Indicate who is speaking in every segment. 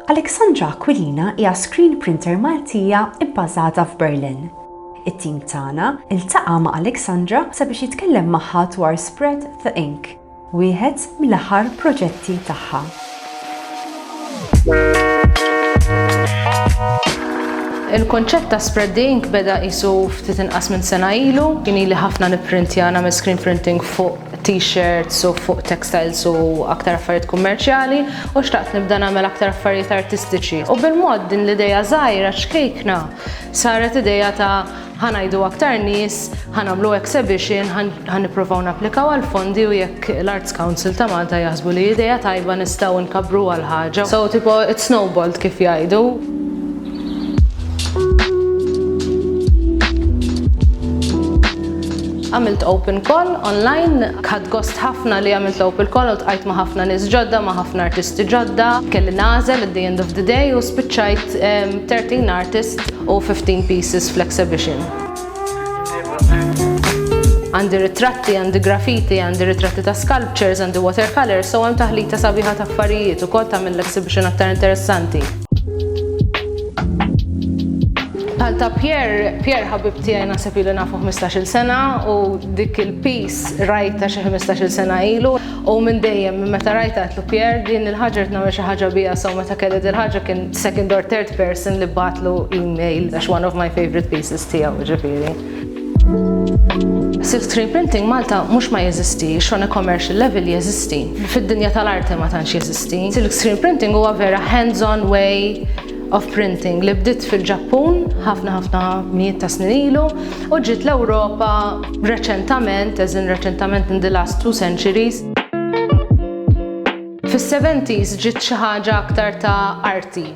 Speaker 1: Alexandra Aquilina hija screen printer Maltija bbażata f'Berlin. It-tim tagħna ltaqa' ma' Alexandra sabiex jitkellem magħha dwar Spread the Ink, wieħed mill-aħħar proġetti tagħha.
Speaker 2: Il-konċett ta' Spread the Ink beda qisu ftit inqas minn sena ilu, kien ili ħafna nipprintja nagħmel screen printing fuq t-shirts u fuq textiles u aktar affarijiet kummerċjali u xtaqt nibda nagħmel aktar affarijiet artistiċi. U bil-mod din l-idea żgħira ċkejkna saret idea ta' ħa ngħidu aktar nies, ħa nagħmlu exhibition, ħa nippruvaw napplikaw għal fondi u jekk l-Arts Council ta' Malta jaħsbu li idea tajba nistgħu nkabbruha l-ħaġa. So tipo it snowballed kif jgħidu. Għamilt open call online, ħadd gost ħafna li għamilt l-open call u tqajt ma' ħafna nies ġodda, ma' ħafna artisti ġodda, kelli nagħżel at the end of the day u spiċċajt 13 artist u 15 pieces fl-exhibition. Għandi ritratti, għandi graffiti, għandi ritratti ta' sculptures, għandi watercolors, so hemm taħlita sabiħa ta' affarijiet u kol tagħmel l-exhibition aktar interessanti. Bħal ta' Pierre, Pierre ħabib tiegħi naħseb ili nafu ħmistax-il sena u dik il-piece rajtha xi ħmistax-il sena ilu u minn dejjem minn meta rajtha għedtlu Pierre din il-ħaġa rrid nagħmel xi ħaġa biha so meta kelli dil-ħaġa kien second or third person li bgħatlu email għax one of my favourite pieces tiegħu jiġifieri. Silk screen printing Malta mhux ma jeżisti, xon a commercial level jeżisti. Fid-dinja tal-arti ma tantx jeżisti. Silk screen printing huwa vera hands-on way of printing li bdiet fil-Ġappun ħafna ħafna mijiet ta' snin ilu u ġiet l-Ewropa reċentament, eżin reċentament in the last two centuries. Fis-70s ġiet xi ħaġa aktar ta' arti.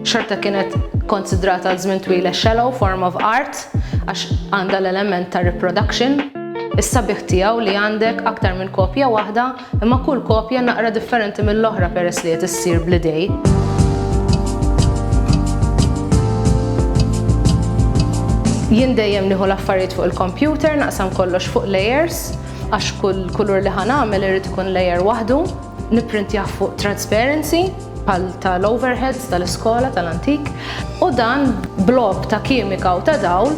Speaker 2: Xorta kienet konsidrata għal żmien twila shallow form of art għax għandha l-element ta' reproduction. Is-sabiħ tiegħu li għandek aktar minn kopja waħda Imma kull kopja naqra differenti mill-oħra peress li qed issir bl-idej. Jien dejjem nieħu l-affarijiet fuq il-kompjuter, naqsam kollox fuq layers, għax kull kulur li ħan għamel irid ikun layer waħdu, nipprintjah fuq transparency, pal tal-overheads tal-iskola tal-antik, u dan blob ta' kimika u ta' dawl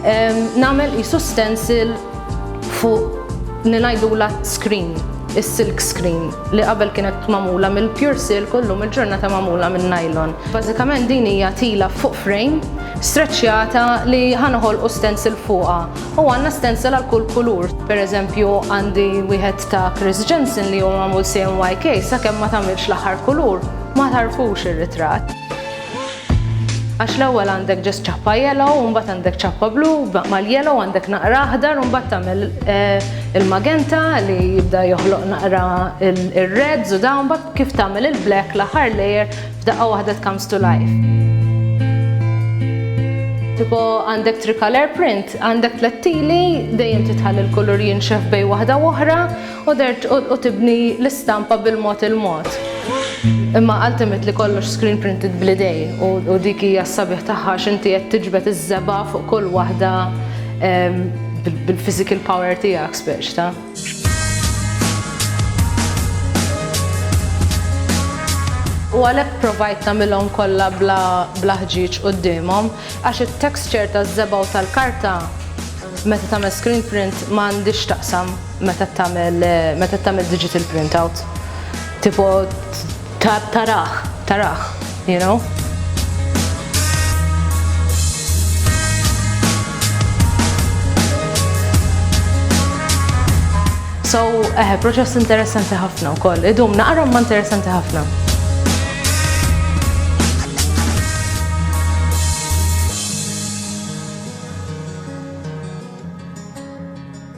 Speaker 2: Nagħmel qisu stencil fuq li ngħidulha screen, is-silk screen, li qabel kienet magħmula mill-pure silk u llum il-ġurnata magħmula minn nylon. Bażikament din hija tila fuq frame streċċjata li ħa noħolqu stencil fuqha u għandna stencil għal kull kulur. Pereżempju għandi wieħed ta' Chris Jensen li huwa magħmul CMYK sakemm ma tagħmilx l-aħħar kulur ma tagħrfux ir-ritratt. Għax l-ewwel għandek ġest ċappa yellow, u mbagħad għandek ċappa blu, mal-yellow għandek naqra aħdar, u mbagħad tagħmel eh, il-magenta li jibda joħloq naqra il-reds u dawn mbagħad kif tagħmel il-black l-aħħar layer f'daqqa waħda comes to life. Tipo għandek tricolor print, għandek tlettili, dejjem titħalli l-kulur jinxef bej waħda oħra, U dehrt u tibni l-istampa bil-mod il-mod. Imma ultimately kollox screen printed bl-idej u dik hija s-sabiħ tagħha għax inti qed tiġbed iż-żebgħa fuq kull waħda bil-physical power tiegħek spiex ta'. U għalhekk provajt nagħmilhom kollha bla ħġieġ quddiemhom għax it-texture taż-żebgħa u tal-karta meta tagħmel screen print ma għandhiex x'taqsam. Meta tagħmel meta tagħmel digital printout tipo tarah, tarah, you know? So, eħe, proċess interessanti ħafna u koll. Idum, naqra ma interessanti ħafna.